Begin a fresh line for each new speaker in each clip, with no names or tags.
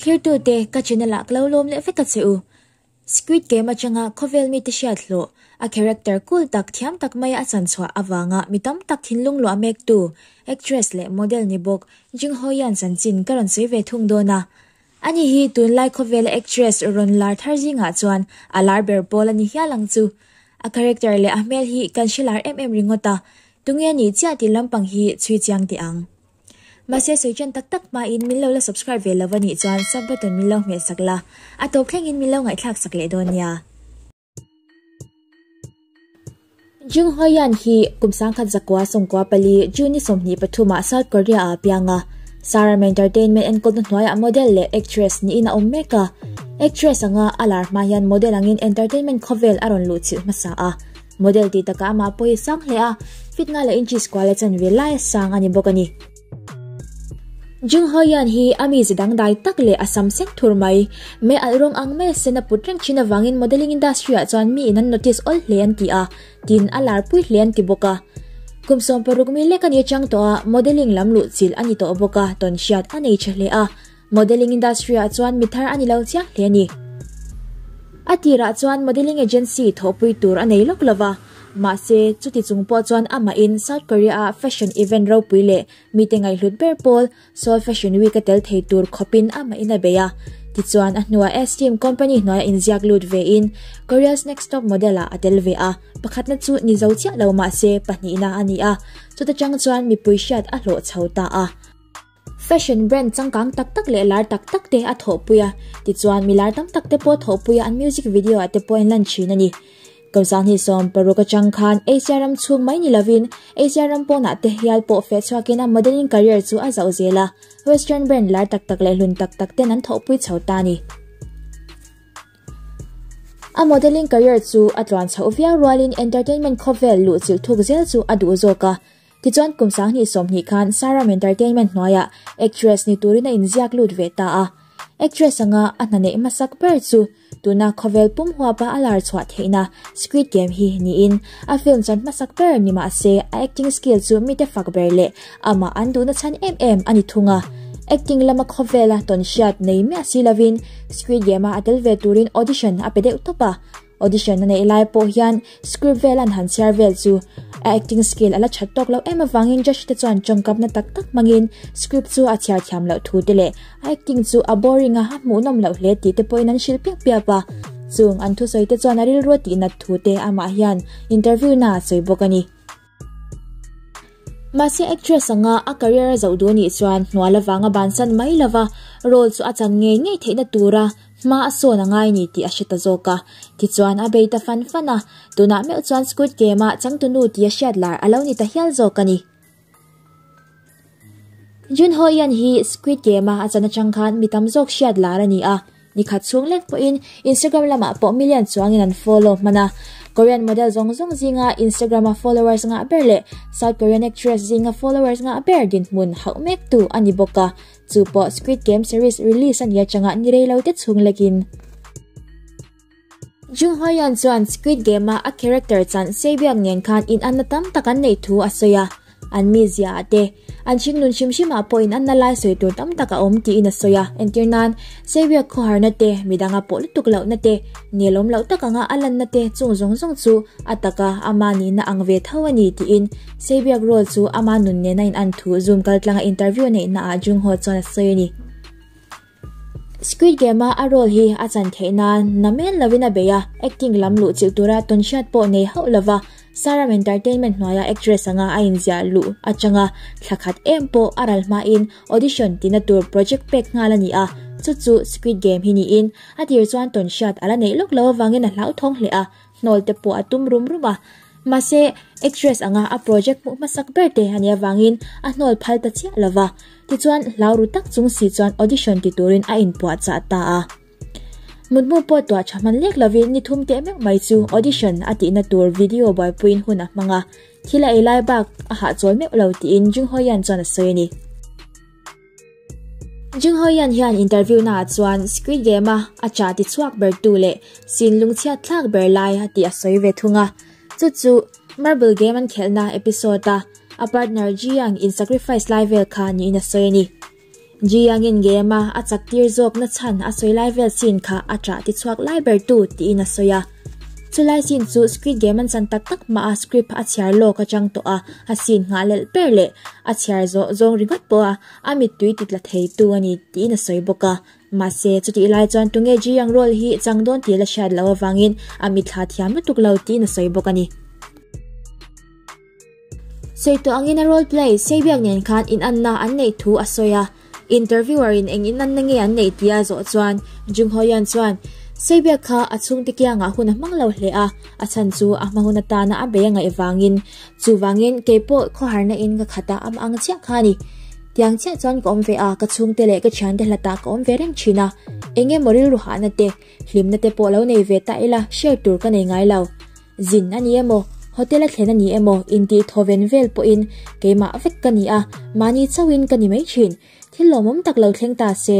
Thirtu te ka chin a lak lo lawm leh vek a che u. Squid Game atanga khawvel mite hriat hlawh, a character cool tak, thiam tak maia a chan chhuah avanga mi tam tak thinlung luah mektu actress leh model ni bawk Jing Ho Yan chanchin ka rawn sawi ve thung dawn a. Ani hi tunlai khawvela actress rawn lar thar zingah chuan a lar ber pawl a ni hial ang chu. A character leh a hmel hi kan hre lar em em ringawt a, tunge ni chiah tih lampang hi chhui chiang teh ang. Mahse sawi ṭan tak tak hma in min lo la subscribe ve lova nih chuan sub button min lo hmel sak la, a tawp thleng in min lo ngaihthlak sak leh dawn nia. Jung Hoi Yan hi kum sangkhat zakua sawngkua pali June-i sawmhnih pathum ah South Korea ah a piang a. Sarama Entertainment enkawlna hnuai ah model leh actress ni in a awm mek a. Actress anga a lar hma hian model ang in entertainment khawvel a rawn luh chilh hmasa a. Model tih taka amah pawh hi sang hle a, fit ngai leh in cheese kual a chan ve lai a sang a ni bawk a ni. Jungho Yan hi a mi zi dangdai tak leh a sam seng thur mai. Me alh rawng ang mai a sen a put reng thin avangin modelling industry ah chuan mi in an notice awl hle an ti a, tiin a lar pui hle an ti bawk a. Kum sawmpawh ruk mi lek a ni atang tawh a, modelling lam luh chilh a ni tawh bawk a, tawn hriat a nei tha hle a. Modelling industry-ah chuan mi thar a ni lo chiang hle a ni. A tirah chuan modelling agency thawhpui tur a nei lawk lo va. Mahse, chuti chung pawh chuan amahin South Korea-ah fashion event ropui leh mite ngaihhlut ber pawl Seoul Fashion Week a tel thei tur khawpin amahin a bei a. Tichuan, a hnua Esteem company hnuaia inziak lut vein Korea's Next Top Model-ah a tel ve a. Pakhatna chu ni zo chiah lo mahse pahnihna a ni a, chuta chang chuan mipui hriat a hlawh chho ta a. Fashion brand changkang tak tak leh lar tak tak te a thawhpui a, tichuan mi lar tam tak te pawh thawhpui a an music video ah te pawh a inlan thin a ni. Kawmsa hnih sawm paruk atang khan Asia ram chhung mai ni lovin Asia ram pawnah te hial pawh feh chhuakin a modelling career chu a zauh zel a, western brand lar tak tak leh hlun tak tak ten an thawhpui chho ta a ni. A modelling career chu a tluan chhoh viau rualin entertainment khawvel luh chilh thuk zel chu a duh zawk a, Tichuan kum sanghnih sawmhnih khan Saram Entertainment hnuaia actress ni turin a inziak lut ve ta a. Actress anga a hnaneih hmasak ber chu tuna khawvel pum huapa a lar chhuah theihna Squid Game hi niin a film chuan hmasak ber ni mah se a acting skill chu mite fak ber leh amah an duhna chhan em em a ni thung a. Acting lama khawvela tawnhriat nei miah si lovin Squid Game-a a tel ve turin audition a pe deuh tawp a. Audition a neih lai pawh hian script vel an han chhiar vel chu a acting skill ala that tawk lo em avangin judge te chuan tawngkapna tak tak hmangin script chu a chhiar thiam loh thu te leh a acting chu a boring a a hmuh nawm loh hle tih te pawhin an hrilh piap piap a chung an thusawi te chuan a rilru a tih nat thu te amah hian interview naah a sawi bawk a ni. Mahse actress anga a career a zoh duh anih chuan hnuai lovang a ban san mai lova, role chu a chan ngei ngei theihna tura hma a sawn angai ni tih a hre ta zawk a. Tichuan a bei ta fan fan a, tunah meuh chuan Squid Game-a changtunu tia hriatlar a lo ni ta hial zawk a ni. Jun Ho Yan hi Squid Game-a a chan atang khan mi tam zawk hriat lar a ni a, ni khat chhung lek pawhin Instagram lamah pawh million chuangin an follow hman a. Korean model zawng zawng zinga Instagram-a followers ngah ber leh South Korean actress zinga followers ngah ber dinhmun hauh mek tu a ni bawk a, chu pawh Squid Game series release a nih atanga ni rei lo te chhung lekin. Jung Hwa Yan chuan Squid Game-a a character chanh sei biak nen khan inanna tam tak an neih thu a sawi a, an mizia-ah te, an thingnun hrim hrimah pawh inanna lai sawi tur tam tak a awm tiin a sawi a, entir nan, sei biak khawharna te, midanga pawh lutuk lohna te, nelawm loh tak anga a lanna te chung zawng zawng chu a taka ama nihna ang ve tho a ni tiin sei biak role chu ama nun nen a inan thu Zoom kaltlanga interview neihnaah Jung Ho chuan a sawi a ni. Squid Game-a a role hi a chan theih nan na men lovin a bei a, acting lam luh chilh tura tawn hriat pawh nei hauh lova Saram Entertainment hnuaia actress anga a inziah luh atanga thla khat em pawh a ral hmain audition tina tur project pek nghal a ni a, chu chu Squid Game hi niin a tir chuan tawn hriat a la neih lawk lo avangin a hlauhthawng hle a. hnawl te pawh a tum rum rum a, mahse actress anga a project hmuh hmasak ber te a nih avangin a hnawl phal ta chiah lova, tichuan hlauhru tak chung si chuan audition ti turin a inpuah chah ta a. Mut mu pawh tuah tha hman lek lovin ni thum teh meuh mai chu audition a tihna tur video buaipuiin hun a hmang a, thil a ei lai bak a hahchawl meuh lo tiin Jinghoian chuan a sawi a ni. Jung Ho Yan hian interview na chuan Squid Game a a cha ti chuak ber tu le sin lungchhiat thlak ber lai a ti a sawi ve thung a. Chu chu Marble Game an khelna episode a a partner Ji Yang in sacrifice lai vel kha niin a sawi a ni. Ji Yang in game a a chak tir zawk na chhan a sawi lai vel sin kha a cha ti chuak lai ber tu tiin a sawi a. Chulai scene chu Squid Game an chan tak tak hmaah script a chhiar lawk atang tawh a, a scene nghah lelh per leh a chhiar zawh zawng ringawt pawh a, a mittui ti tla theitu a ni tiin a sawi bawk a. Mahse, chutih lai chuan Tunge Ji ang role hi chang dawn tir la hriat loh avangin a mitthla thiam lutuk lo tiin a sawi bawk a ni. Sawi tawh angin a role play sei biak nen khan in an na an neih thu a sawi a, interviewer in eng in an na nge an neih tih a zawh chuan Jung Ho Yan chuan sei biak kha a chhungte kiangah hun a hmang lo hle a, a chhan chu a hma hun atana a bei a ngaih vangin chuvangin keipawh khawharna in ka khata a ang chiah kha a ni tiang chiah chuan ka awm ve a, ka chhungte leh ka thiante hlatah ka awm ve reng thin a, eng emaw rilru hahna te hlimna te pawh lo nei ve ta ila share tur ka nei ngai lo. Zin a ni emaw, hotel a thlen a ni emaw intihthaw ven vel pawhin keimah vek ka ni a, mahni chauhin ka ni mai thin. Thil lawmawm tak lo thleng ta se,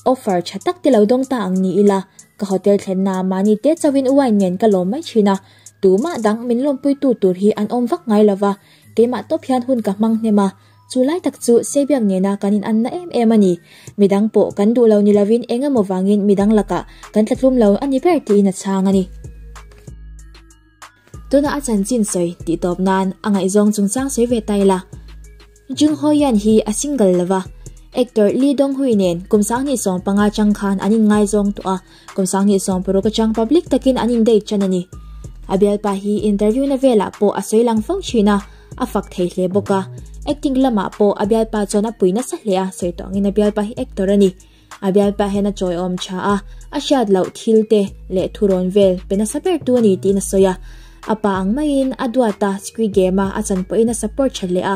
offer tha tak te lo dawng ta ang ni ila, ka hotel thlennaah mahni te chauhin wine nen ka lawm mai thin a, tumah dang min lawmpuitu tur hi an awm vak ngai lova, keimah tawp hian hun ka hmang hnem a. Chu lai tak chu Seibiak nena kan inanna em em a ni. Midang pawh kan duh lo ni lovin eng emaw vangin midang lakah kan tla tlum lo a ni ber tiin a chhang a ni. Tuna a chanchin sawi tih tawp nan a ngaihzawng chungchang sawi ve ta ila. Jung Ho Yan hi a single lova, actor Lee Dong Hui nen kum sang ni sawng panga chang khan an inngaizawng tawh a. Kawmsang hi sawmpuruk atang public takin an indate tan a ni. A bialpa hi interview na velah pawh a sawi lang fo thin a, a fak thei hle bawk a. Acting lamah pawh a bialpa chuan a pui nasa hle a, sawi tawngin a bialpa hi actor a ni. A bialpa hian a chawiawm tha a, a hriat loh thil te leh thurawn vel pe nasa bertu a ni tiin a sawi a. A pa ang maiin a duata Squid Game-a a chanpawhin a support tha hle a.